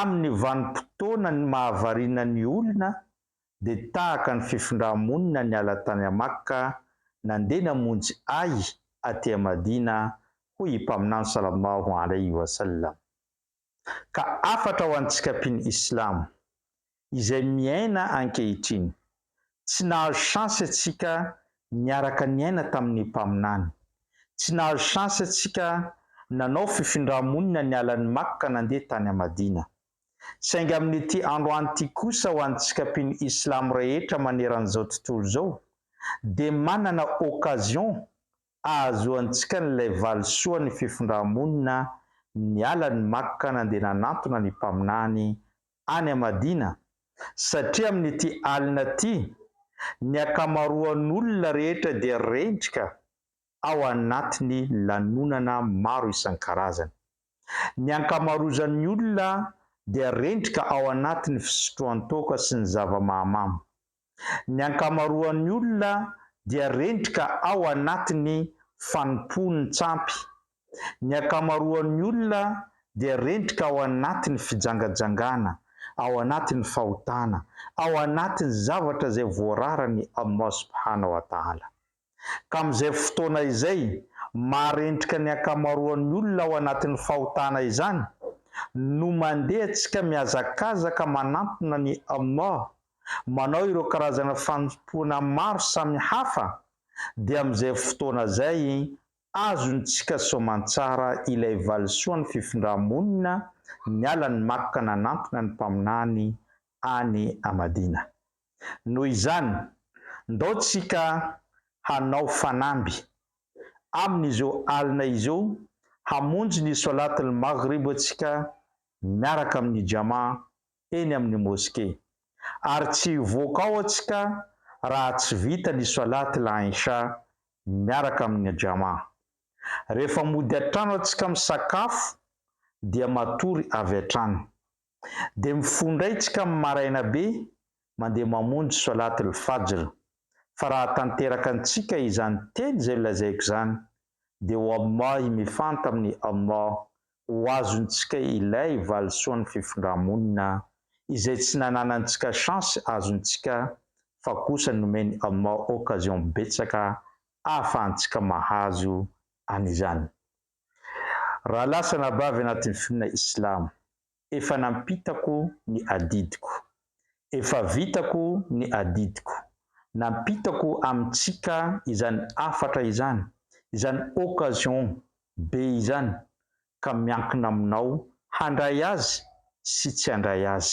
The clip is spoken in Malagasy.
Amin'ny vanim-potoana ny mahavariana ny olona dia tahaka ny fifindrà-monina niala tany Amakka nandeha namonjy ahy aty Madina hoy i Mpaminany Sallallahu Alaihi Wasallam. Ka hafatra ho antsika mpino Islamo, izay miaina ankehitriny. Tsy nahazo chance antsika niaraka niaina tamin'ny Mpaminany. Tsy nahazo chance antsika nanao fifindrà-monina niala an'i Makka ka nandeha tany Madina. Saingy amin'ity androany ity kosa ho antsika mpino Islam rehetra maneran'izao tontolo izao dia manana occasion ahazoantsika an'ilay valisoan'ny fifindrà-monina niala an'i Makka nandeha nanantona ny Mpaminany any Amadina satria amin'ity alina ity ny ankamaroan'olona rehetra dia rendrika ao anatin'ny lanonana maro isan-karazany. Ny ankamarozan'ny olona dia rendrika ao anatin'ny fisotroan-toaka sy ny zava-mahamamo. Ny ankamaroan'ny olona dia rendrika ao anatin'ny fanompoany tsampy. Ny ankamaroan'ny olona dia rendrika ao anatin'ny fijangajangana, ao anatin'ny fahotana, ao anatin'ny zavatra izay voararany Allah Subhanahu wa Ta'ala. ka amin'izay fotoana izay marentrika ny ankamaroan'ny olona ao anatin'ny fahotana izany no mandeha antsika mihazakazaka manantona ny Ummah manao ireo karazana fanompoana maro samy hafa dia amin'izay fotoana zay azontsika soamantsara ilay valisoan'ny fifindra-monina niala an'i Makka nanantona ny Mpaminany any Madina. Noho izany, ndao tsika hanao fanamby, amin'izao alina izao, hamonjy ny Solat al-Maghrib tsika miaraka amin'ny Jama eny amin'ny Moske. Ary tsy hivoaka ao tsika raha tsy vita ny Solat al-Isha miaraka amin'ny Jama. Rehefa mody an-trano tsika misakafo dia matory avy hatrany. Dia mifondray tsika amin'ny maraina be mandeha mamonjy Swalaat al-Fajr, fa raha tanteraka antsika izany teny izay lazaiko izany, dia wallahi mifanta amin'ny Allah ho azontsika ilay valisoan'ny fifindra-monina izay tsy nananantsika chance azontsika fa kosa nomen'i Allah occasion betsaka ahafahantsika mahazo an'izany. Raha lasa anabavy anatin'ny finoana Islamo, efa nampitako ny adidiko. Efa vitako ny adidiko. Nampitako amintsika izany hafatra izany, izany occasion be izany, ka miankina aminao handray azy sy tsy handray azy,